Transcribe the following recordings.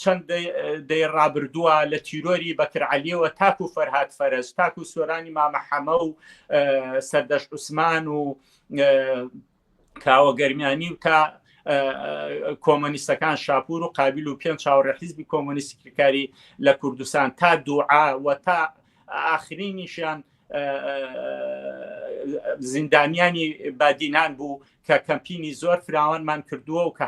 چەند دەی ڕابردووە لە تیرۆری بەکر عەلیەوە تاکو فەرهاد فەرج تاکو سۆرانی مامە حەمە و سەردەش عوسمان و کاوە گەرمیانی و تا کۆمەنیستەکان شاپور و قابل و پێنج چاوەڕێ حیزبی کۆمەنیستکاری لە کوردستان تا دوعا و تا ئاخرینیشیان زیندانیانی بادینان بوو کە کەمپینی زۆر فراوانمان کردووە و کە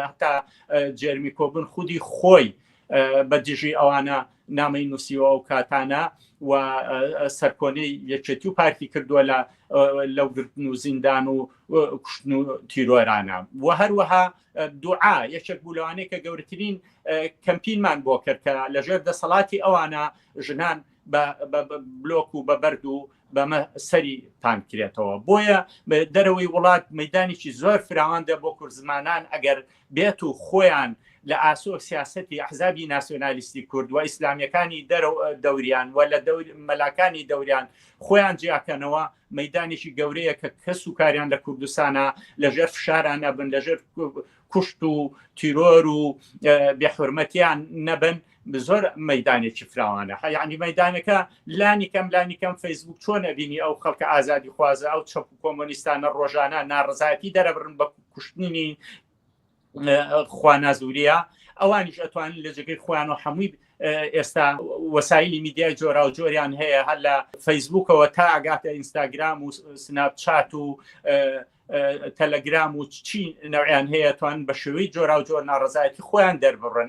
هەتا جێرمی کۆبن خودی خۆی بە دژی ئەوانە نامی نووسیوە و کاتانە و سەرکۆنەی یەکێتی و پارتی کردووە لە لەو گرتن و زیندان و کوشتن و تیرۆرانە و هەروەها دوعا یەکێک بوو لەوانەیە کە گەورترین کەمپینمان بۆ کرد کە لەژێر دەسەڵاتی ئەوانە ژنان بە بلۆک و بە بەرد و بەمە سەری تانکرێتەوە بۆیە دەرەوەی وڵات مەدانێکی زۆر فراوان دە بۆ کورد زمانان ئەگەر بێت و خۆیان لە ئاسۆ سیاستی ئەحزابی ناسیۆنالیستی کورد و ئیسلامیەکانی دەرە دەوریان و لە مەلاکانی دەوریان خۆیان جیاکەنەوە مەدانێکی گەورەیە کە کەس و کاریان لە کوردستانە لەژێر فشارانە بن لەژێر کوشت و تیرۆر و بێحرمەتیان نەبن زۆر مەدانێکی فراوانە حیانی مەدانەکە لانی کەم لانی کەم فەیسبوک چۆن ئەبینی ئەو خەڵکە ئازادی خوازە ئەو چەپ و کۆمۆنیستانە ڕۆژانە ناڕزایەتی دەرەبرن بە کوشتنی خوانازوریە ئەوانیش ئەتوانن لە جگەی خۆیان و هەمووی ئێستا وەسایلی میدیای جۆرا و جۆریان هەیە هەر لە فەیسبوکەوە تا ئەگاتە ئینستاگرام و سناپ چات و تەلەگرام و چی نەوەیان هەیە توان بە شێوەی جۆراوجۆر ناڕزایەتی خۆیان دەربڕن